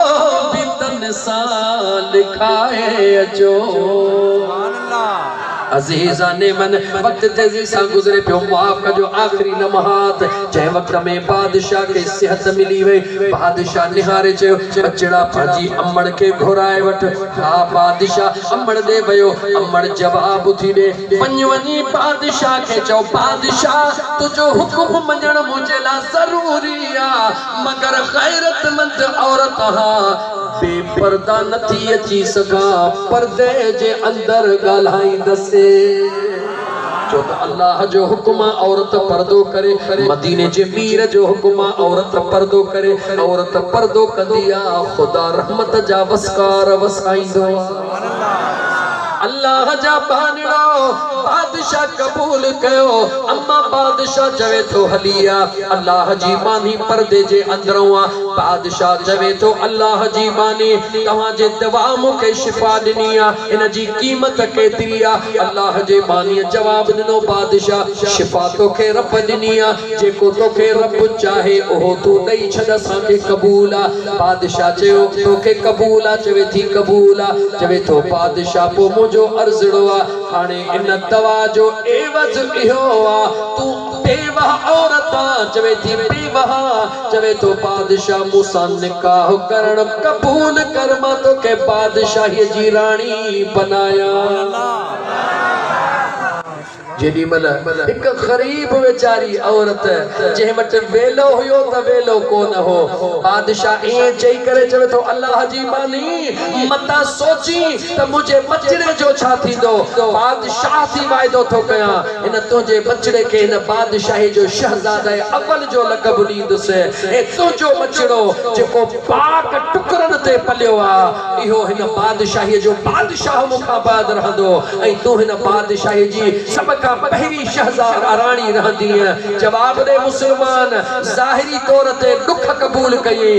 به تن سان لکائي اچو. عزيزان من وقت تيزي سان گذري پيو معاف ڪجو آخري لمحات جنهن وقت ۾ بادشاهه کي صحت ملي وئي بادشاهه نهاري چيو ٻچڙا پنهنجي امڙ کي گهرائي وٺ ها بادشاهه امڙ ڏي ويو امڙ جواب ٿي ڏي وڃ وڃي بادشاهه کي چئو بادشاهه تنهنجو حڪم مڃڻ منهنجي لاء ضروري آ مگر غيرتمند عورت ها بي پرده نه ٿي اچي سگهان پردي جي اندر ڳالهائيندسي ڇو ته الله جو حڪم آ عورت پردو ڪري مديني جي مير جو حڪم آ عورت پردو ڪري عورت پردو ڪندي آ خدا رحمت جا وسڪار وسائيندو آ. الله جا ٻانهڙا بادشاهه قبول ڪيو. اما بادشاهه چوي ٿو هلي آ. الله جي ٻانهي پردي جي اندرون آ. بادشاهه چوي ٿو الله جي ٻانهي توهان جي دوا مون کي شفا ڏني آ. ان جي قيمت ڪيتري آ؟ الله جي ٻانهي جواب ڏنو بادشاهه شفا توکي رب ڏني آ. جيڪو توکي رب چاهي اهو تون ڏئي ڇڏ اسان کي قبول آ. بادشاهه چيو، تو کي قبول آ؟ چوي ٿي قبول آ. چوي ٿو بادشاهه پوء منهنجو عرضڙو آ. هاڻي ان دوا جو عيوض اهو آ، تون بيوه عورت آ. چوي ٿي بيوه آ. چوي ٿو بادشاهه مون سان نڪاح ڪرڻ قبول ڪر، مان تو کي بادشاهيء جي راڻي بنايان. جيڏي مھل ھڪ غريب ويچاري عورت جنھن وٽ ويلو ھيو ته ويلو ڪو نه ھو. بادشاھ ائين چئي ڪري چوي ٿو الله جي ٻانھي متان سوچين ته منھنجي ٻچڙي جو ڇا ٿيندو. بادشاھ ٿي واعدو ٿو ڪيان ھن تنھنجي ٻچڙي کي ھن بادشاھي جو شھزاده اول جو لقب ڏيندس ۽ تنھنجو ٻچڙو جيڪو پاڪ ٽڪرن تي پليو آ اھو ھن بادشاھي جو شاهه مون کان بعد رهندو ۽ تون هن بادشاهي جي سڀ کان پهرين شهزا راڻي رهندينء. جواب ڏي مسلمان ظاهري طور تي ڏک قبول ڪيئي،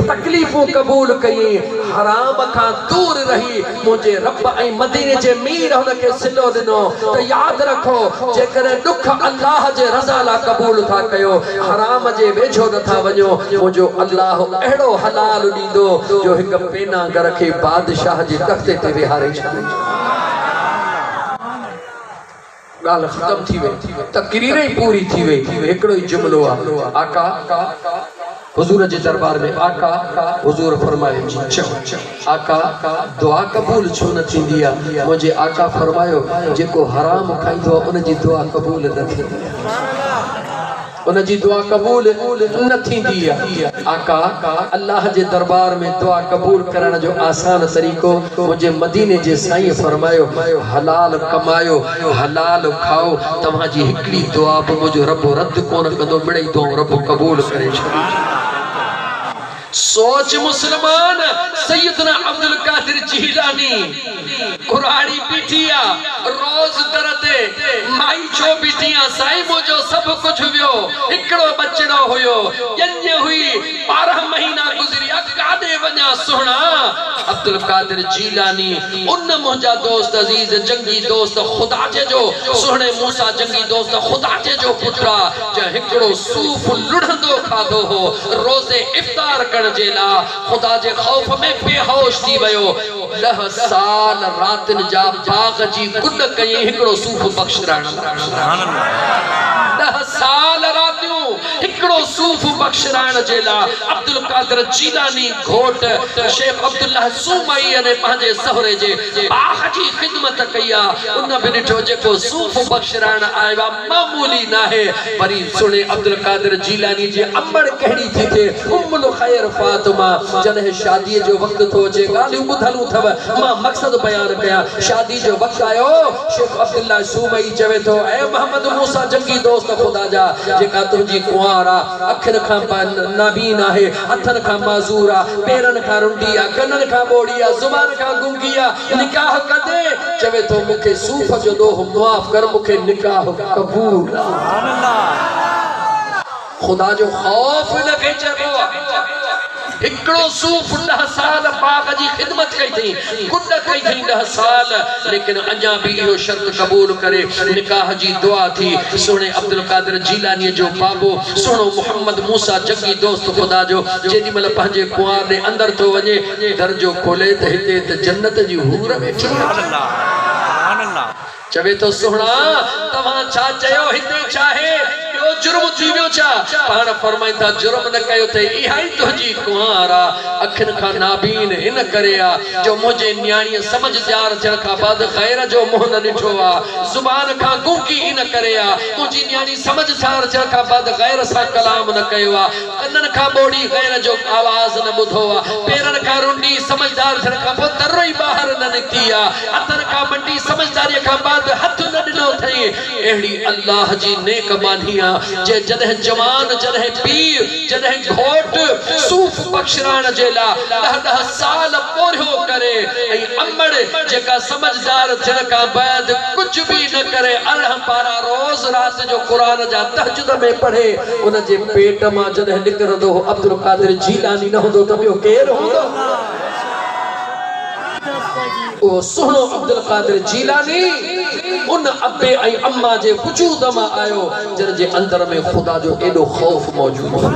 تڪليفون قبول ڪيئي، حرام کان دور رهي منهنجي رب ۽ مديني جي مير هن کي صلو ڏنو ته ياد رکو جيڪڏهن ڏک الله جي رضا لا قبول ٿا ڪيو حرام جي ويجهو نٿا وڃو منهنجو الله اهڙو حلال ٿيندو جو هڪ پينا گر کي بادشاهه جي تختي تي ويهاري ڳالهه ختم ٿي وئي تقرير ئي پوري ٿي وئي هڪڙو ئي جملو آهي آقا حضور جي دربار ۾ آقا حضور فرمايو جي چئو آقا دعا قبول ڇو نه ٿيندي آ منهنجي آقا فرمايو جيڪو حرام کائيندو آ ان جي دعا قبول نه ٿيندي آ ان جي دعا قبول نه ٿيندي آقا الله جي دربار ۾ دعا قبول ڪرڻ جو آسان طريقو منهنجي مديني جي سائين فرمايو حلال ڪمايو حلال کائو توهان جي هڪڙي دعا به منهنجو رب رد ڪونه ڪندو مڙئي دعائون رب قبول ڪري ڇڏيندو. سوچ مسلمان سيدنا عبدالقادر جيلاني ڪراڙي بيٺي آ روز در تي مائي ڇو بيٺي آ سائين منهنجو سڀ ڪجھ ويو هڪڙو ٻچڙو هيو ڄڃ هئي ٻارهن مهينا گذريا ڪاڏي وڃان سهڻا عبدالقادر جيلاني ان منهنجا دوست عزيز جنگي دوست خدا جي جو سهڻي موسيٰ جنگي دوست خدا جي جو پٽ آ جنهن هڪڙو صوف لڙهندو کاڌو هو، روزي افطار ڪرڻ جي لاء خدا جي خوف ۾ بيهوش ٿي ويو. ڏهه سال راتين جا باغ جي گڏ ڪيئي هڪڙو صوف بخش رائڻ لاء. ڏهه سال راتيون هڪڙو صوف بخش رائڻ جي لاء عبدالقادر جيلاني گهوٽ شيخ عبدالله سومري ۽ پنهنجي سهري جي باغ جي خدمت ڪئي آ. ان به ڏٺو جيڪو صوف بخش رائڻ آيو آ. معمولي ناهي، وري سڻي عبدالقادر جيلاني جي امڙ ڪهڙي ٿي ٿئي، ام الخير فاطمه، جڏهن شاديء جو وقت ٿو اچي، ڳالهيون ٻڌل اٿئو، مان مقصد بيان ڪيان، شادي جو وقت آيو، شيخ عبدالله صومعي چوي ٿو، اي محمد موسيٰ جنگي دوست خدا جا، جيڪا تنهنجي ڪنوار آ، اکين کان نابين آهي، هٿن کان معذور آ، پيرن کان رنڊي آ، ڪنن کان ٻوڙي آ، زبان کان گنگي آ، نڪاح ڪندين؟ چوي ٿو مون کي صوف جو ڏوهه معاف ڪر مون کي نڪاح قبول آ. خدا جو خوف ان کي چئبو آ. هڪڙو صوف ڏهه سال باغ جي خدمت ڪئي ٿئي، ڪڏ ڪئي ٿئي ڏهه سال، ليڪن اڃا به اهو شرط قبول ڪري نڪاح جي دعا ٿي، سهڻي عبدالقادر جيلانيء جو بابو سهڻو محمد موسيٰ جڳي دوست خدا جو جيڏي مهل پنهنجي ڪنوار ڏي اندر ٿو وڃي، در جو کولي ته هتي ته جنت جي حور ويٺي آهي. چوي ٿو سهڻا توهان ڇا چيو هتي ڇاهي ٻيو جرم ٿي ويو ڇا پاڻ فرمائين ٿا جرم نه ڪيو اٿئي اها ئي تنهنجي ڪنوار آ اکين کان نابين ان ڪري آ جو منهنجي نياڻيء سمجهه ڄار ٿيڻ کان بعد غير جو منهن نه ڏٺو آ زبان کان گونگي ان ڪري آ منهنجي نياڻي سمجهه ڄار ٿيڻ کان بعد غير سان ڪلام نه ڪيو آ ڪنن کان ٻوڙي غير جو آواز نه ٻڌو آ، پيرن کان رنڊي سمجهدار ٿيڻ کان پوء تر ئي ٻاهر نه نڪتي آ، هٿن کان منڊي سمجهداريء کان بعد هٿ نه ڏنو اٿئين، اهڙي الله جي نيڪ ٻانهي آ، جنهن جڏهن جوان، جڏهن پيء، جڏهن گهوٽ، صوف بخشرائڻ جي لا ڏهه ڏهه سال پورهيو ڪري ۽ امڙ جيڪا سمجهدار ٿيڻ کان بعد ڪجهه به نه ڪري ارڙهن پارا روز رات جو قرآن جا تهجد عشق ۾ پڙهي ان جي پيٽ مان جڏهن نڪرندو هو عبدالقادر جيلاني نه هوندو ته ٻيو ڪير هوندو؟ اهو سهڻو عبدالقادر جيلاني ان ابي ۽ اما جي وجود مان آيو جن جي اندر ۾ خدا جو ايڏو خوف موجود هو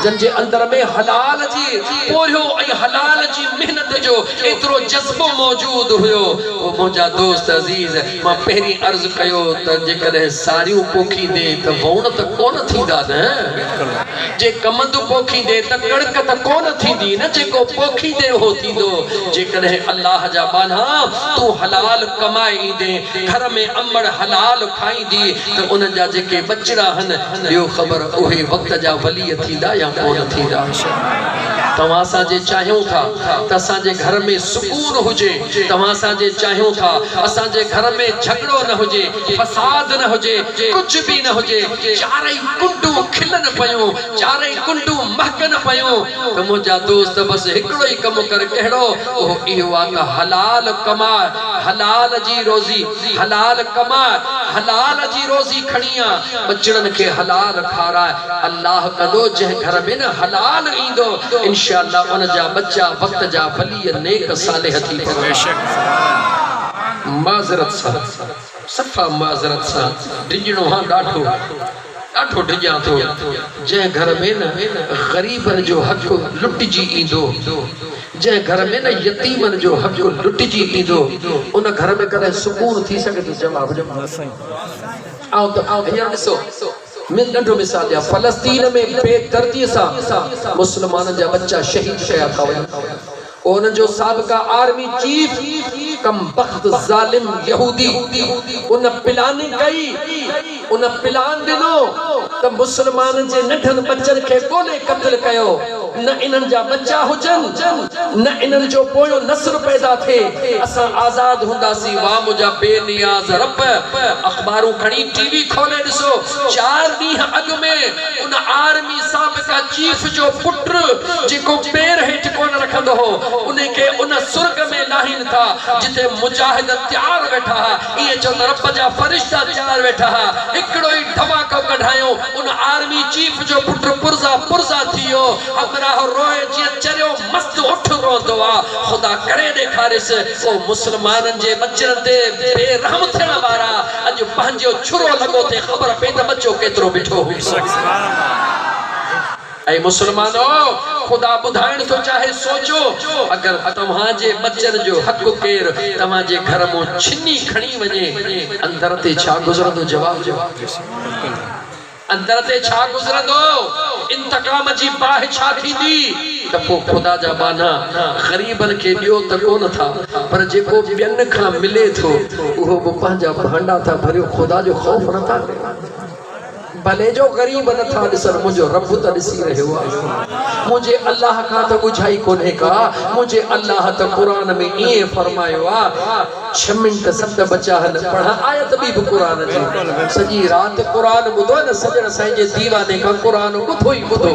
جن جي اندر ۾ حلال جي پورهيو ۽ حلال جي محنت جو ايترو جذبو موجود هيو اهو منهنجا دوست عزيز مان پهرين عرض ڪيو ته جيڪڏهن ساريون پوکيندين ته وئوڻ ته ڪونه ٿيندا نه؟ جي ڪمند پوکيندين ته ڪڻڪ ته ڪونه ٿيندي نه؟ جيڪو پوکيندين اهو ٿيندو. جيڪڏهن الله جا ٻانها تون حلال ڪمائي ايندين، گهر ۾ امڙ حلال کائيندي ته انهن جا جيڪي ٻچڙا هن، ڏيو خبر اهي وقت جا وليء ٿيندا يا ڪونه ٿيندا. توهان اسان جي چاهيون ٿا ته اسان جي گهر ۾ سڪون هجي. توهان اسان جي چاهيون ٿا اسان جي گهر ۾ جهڳڙو نه هجي، فساد نه هجي، ڪجهه به نه هجي، چارئي ڪنڊون کلن پيون، چارئي ڪنڊون مهڪن پيون ته منهنجا دوست بس هڪڙو ئي ڪم ڪر ڪهڙو؟ اهو اهو آ ته حلال ڪماء، حلال جي روزي، حلال ڪماء، حلال جي روزي کڻي آ، ٻچڙن کي حلال کاراء، الله ڪندو جنهن گهر ۾ نه حلال ايندو انشاء الله ان جا ٻچا وقت جا ولي اي نيڪ صالح ٿي پوان. معذرت سان، صفا معذرت سان، ڊڄڻو هان ڏاڍو، ڏاڍو ڊڄان ٿو. جنهن گهر ۾ نه غريبن جو حق لٽجي ايندو، جنهن گهر ۾ نه يتيمن جو حق لٽجي ايندو، ان گهر ۾ ڪڏهن سڪون ٿي سگهي ٿو؟ جواب ڏيو. آئون ته هينئر ڏسو. ۾ ننڍو مثال ڏيان فلسطين ۾ بي دردي سان مسلمانن جا ٻچا شهيد ڪيا ٿا وڃن پوء انهن جو سابقه آرمي چيف ڪم بخت ظالم يهودي ان پلاننگ ڪئي ان پلان ڏنو ته مسلمانن جي ننڍن ٻچن کي ڳولي قتل ڪيو نه انهن جا ٻچا هجن، نه انهن جو پويون نسل پيدا ٿئي، اسان آزاد هونداسين. واهه منهنجا بي نياز رب! اخبارون کڻي ٽي وي کولي ڏسو، چار ڏينهن اڳ ۾ ان آرمي سابقه چيف جو پٽ جيڪو پير هيٺ ڪونه رکندو هو، ان کي ان سرڳ ۾ لاهين ٿا جتي مجاهد تيار ويٺا ائين ڇو ته رب جا فرشتا تيار ويٺا ها. هڪڙو ئي ڌماڪو ڪڍايون. ان آرمي چيف جو پٽ پرزا پرزا ٿي ويو. همراهه روئي جيئن چريو مست اٺ روئندو آ. خدا ڪري ڏيکاريس. او مسلمانن جي ٻچڙن تي بي رحم ٿيڻ وارا. اڄ پنهنجو ڇرو لڳو ٿي خبر پئي ته ٻچو ڪيترو مٺو هوندو. اي مسلمانؤ! خدا ٻڌائڻ ٿو چاهي، سوچو، اگر توهان جي ٻچن جو هڪ ڪير توهان جي گهر مون ڇني کڻي وڃي، اندر تي ڇا گذرندو؟ جواب ڏيو. اندر تي ڇا گذرندو؟ انتقام جي باهه ڇا ٿيندي؟ ته پوء خدا جا ٻانها، غريبن کي ڏيو ته ڪو نه ٿا، پر جيڪو ٻين کان ملي ٿو، اهو به پنهنجا ڀانڊا ٿا ڀريو، خدا جو خوف نه ٿا ڪريو. ڀلي جو غريب نٿا ڏسن منهنجو رب ته ڏسي رهيو آهي منهنجي الله کان ته ڳجهائي ڪونهي ڪا منهنجي الله ته قرآن ۾ ائين فرمايو آ ڇهه منٽ سٽ بچا هن پڙهه آيت ٻي به قرآن جي سڄي رات قرآن ٻڌو هن سڄڻ سائين جي ديواني کان قرآن ٻڌو ئي ٻڌو.